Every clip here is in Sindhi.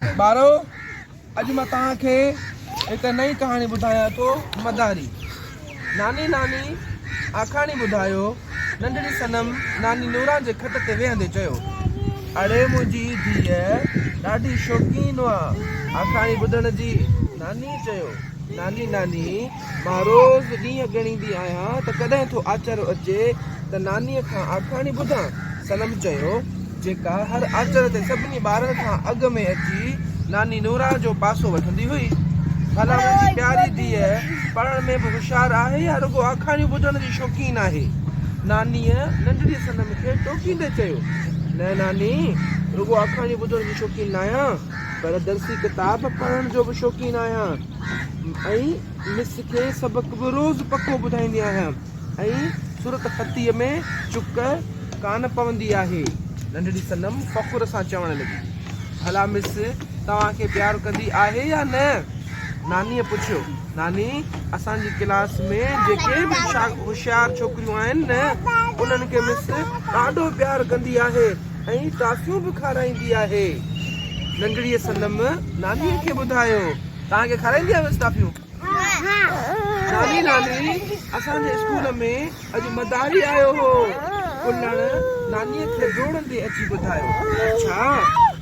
ٻارو! اڄ مان توهان کي هڪ نئين ڪهاڻي ٻڌايان ٿو، مداري. ناني ناني آکاڻي ٻڌايو، ننڍڙي صنم ناني نوران جي کٽ تي ويهندي چيو. اڙي منهنجي ڌيء ڏاڍي شوقين آ آکاڻي ٻڌڻ جي، ناني چيو. ناني ناني! مان روز ڏينهن ڳڻيندي آهيان ته ڪڏهن ٿو آچر اچي ته نانيء کان آکاڻي ٻڌان. صنم چيو، جيڪا هر آچر تي سڀني ٻارن کان اڳ ۾ اچي ناني نورا جو پاسو وٺندي هئي. ڀلا منهنجي پياري ڌيء پڙهڻ ۾ به هوشيار آهي يا رڳو آکاڻيون ٻڌڻ جي شوقين آهي؟ نانيء ننڍڙي صنم کي ٽوڪيندي چيو، نه ناني، رڳو آکاڻيون ٻڌڻ جي شوقين ناهيان، پر درسي ڪتاب پڙهڻ جو به شوقين آهيان. ۽ مس کي سبق به روز پڪو ٻڌائيندي آهيان ۽ صورت خطيء ۾ چڪ ڪانه پوندي آهي. ننڍڙي صنم فخر سان چوڻ لڳي. ڀلا مس توهان کي پيار ڪندي آهي يا نه؟ نانيء پڇيو. ناني، اسان جي ڪلاس ۾ جيڪي به هوشيار ڇوڪريون آهن نه، انهن کي مس ڏاڍو پيار ڪندي آهي. ۽ ٽافيون به کارائيندي آهي. ننڍڙيء صنم نانيء کي ٻڌايو، توهان کي کارائيندي آهيانس ٽافيون؟ ناني، ناني، اسان جي اسڪول ۾ اڄ مداري آيو هو. ڪلڻ نانيء کي ڊوڙندي اچي ٻڌايو. اڇا،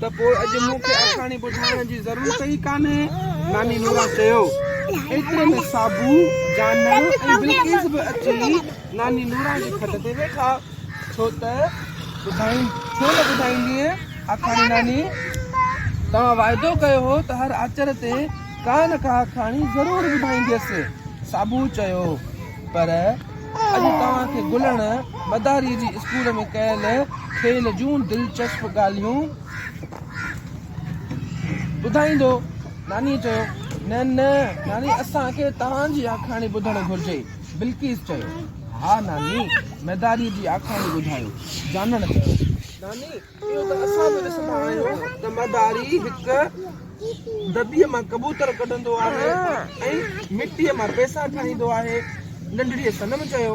ته پوء اڄ مون کي آکاڻي ٻڌائڻ جي ضرورت ئي ڪانهي. ناني نورا چيو. ايتري ۾ صابو، جانڻ ۽ بلقيس به اچي ناني نورا جي کٽ تي ويٺا. ڇو ته ٻڌائين ڇو نه ٻڌائيندينء آکاڻي ناني؟ توهان واعدو ڪيو هو ته هر آچر تي ڪا نه ڪا آکاڻي ضرور ٻڌائينديس. صابو چيو، پر اڄ توهان کي گلڻ مداريء جي اسڪول ۾ ڪيل کيل جون دلچسپ ڳالهيون ٻڌائيندو. نانيء چيو، نه نه ناني اسان کي توهان جي آکاڻي ٻڌڻ گهرجي. بلقيس چيو. ها ناني، ميداريء جي آکاڻي ٻڌايو. جانڻ چيو، ناني، اهو ته اسان به ڏسندا آهيون ته ميداري هڪ دٻي مان ڪبوتر ڪڍندو آهي ۽ مٽيء مان پئسا ٺاهيندو آهي. ننڍڙيء صنم چيو،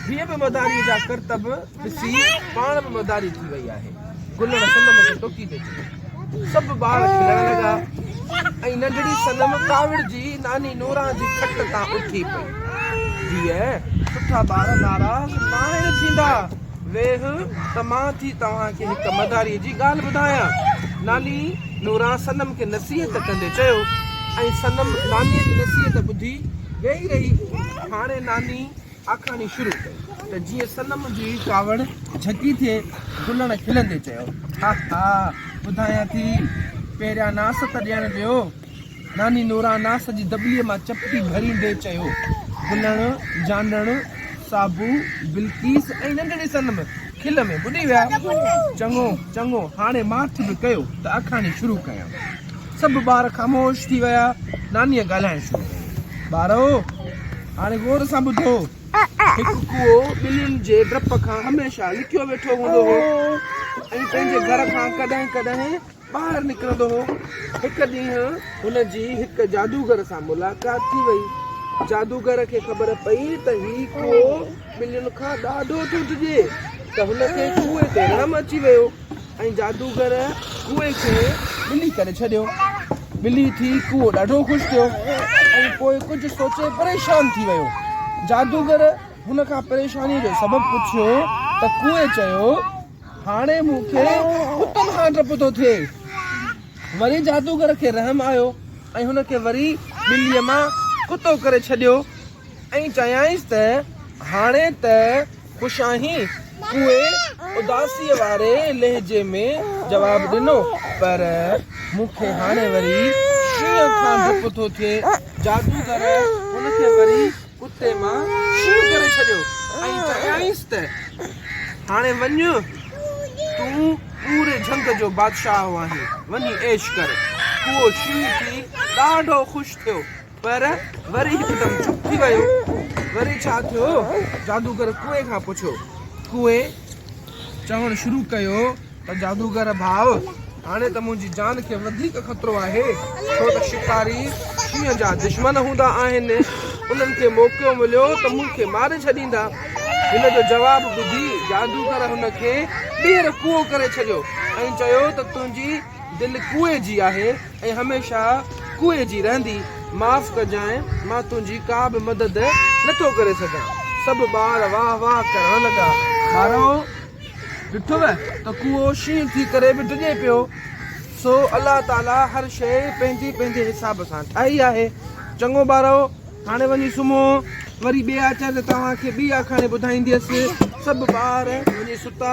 هيء به ميداريء جا ڪرتب ڏسي پاڻ به مداري ٿي وئي آهي. گلڻ صنم کي ٽوڪي پئي ڇڏي. سڀ ٻار کلڻ لڳا ۽ ننڍڙي صنم ڪاوڙجي ناني نوران جي کٽ تان اٿي پئي. ڌيء، سٺا ٻار ناراض ناهن ٿيندا. ويهه ته مان ٿي توهان کي هڪ مداريء جي ڳالهه ٻڌايان. ناني نوران صنم کي نصيحت ڪندي چيو ۽ صنم نانيء جي نصيحت ٻڌي ويهي رهي. هاڻي ناني. آکاڻي شروع ڪئي ته جيئن صنم جي ڪاوڙ جهڪي ٿئي، گلڻ کلندي چيو، ها ها، ٻڌايان ٿي، پهريان ناس ته ڏيڻ ڏيو. ناني نوران ناس جي دٻلي مان چپٽي ڀريندي چيو، گلڻ، جانڻ، صابو، بلقيس ۽ ننڍڙي صنم کل ۾ ٻڏي ويا. چڱو، چڱو، هاڻي ماٺ به ڪيو ته آکاڻي شروع ڪيان. سڀ ٻار خاموش ٿي ويا. نانيء ڳالهائڻ شروع ڪيو، ٻارؤ! هاڻي غور سان ٻڌو. هڪ ڪوئو ٻلين جي ڊپ کان هميشه لڪيو ويٺو هوندو هو ۽ پنهنجي گهر کان ڪڏهن ڪڏهن ٻاهر نڪرندو هو. هڪ ڏينهن هن جي هڪ جادوگر سان ملاقات ٿي وئي. جادوگر کي خبر پئي ته هي ڪوئو ٻلين کان ڏاڍو ٿو ڊڄي ته هن کي ڪوئي تي رحم اچي ويو. ۽ جادوگر ڪوئي کي ٻلي ڪري ڇڏيو. ٻلي ٿي ڪوئو ڏاڍو خوش ٿيو ۽ پوء ڪجهه سوچي پريشان ٿي ويو. جادوگر هن کان پريشانيء جو سبب پڇيو ته ڪوئي چيو، هاڻي مون کي ڪتن کان ڊپ ٿو ٿئي. وري جادوگر کي رحم آيو ۽ هن کي وري ٻليء مان ڪتو ڪري ڇڏيو. ۽ چيائينس ته هاڻي ته خوش آهين؟ اهي اداسيء واري لهجي ۾ جواب ڏنو، پر مون کي هاڻي وري شينهن کان ڊپ ٿو ٿئي. جادوگر هن کي وري ڪتي مان شينهن ڪري ڇڏيو ۽ چيائينس ته هاڻي وڃ، تون پوري جهنگ جو بادشاهه آهين، وڃي عيش ڪر. اهو شينهن ٿي ڏاڍو خوش ٿيو. پر وري هڪدم چپ ٿي ويو. وري ڇا ٿيو؟ جادوگر ڪوئي کان پڇيو. ڪوئي چوڻ شروع ڪيو ته جادوگر ڀاء، هاڻي ته منهنجي جان کي وڌيڪ خطرو آهي، ڇو ته شڪاري شينهن جا دشمن هوندا آهن. انهن کي موقعو مليو ته مون کي ماري ڇڏيندا. هن جو جواب ٻڌي جادوگر هن کي ٻيهر ڪوئو ڪري ڇڏيو ۽ چيو ته تنهنجي دل ڪوئي جي آهي. ۽ هميشه ڪوئي جي رهندي، معاف ڪجانء مان تنهنجي ڪا به مدد نه ٿو ڪري سگهان. سڀ ٻار واهه واهه ڪرڻ لڳا. ٻارو! ڏٺوء ته ڪوئو شينهن ٿي ڪري به ڊڄي پيو. سو الله تعاليٰ هر شيء پنهنجي پنهنجي حساب سان ٺاهي آهي. چڱو ٻارو! هاڻي وڃي سمهو. وري ٻئي آچر تي توهان کي ٻي آکاڻي ٻڌائينديس. سڀ ٻار وڃي ستا.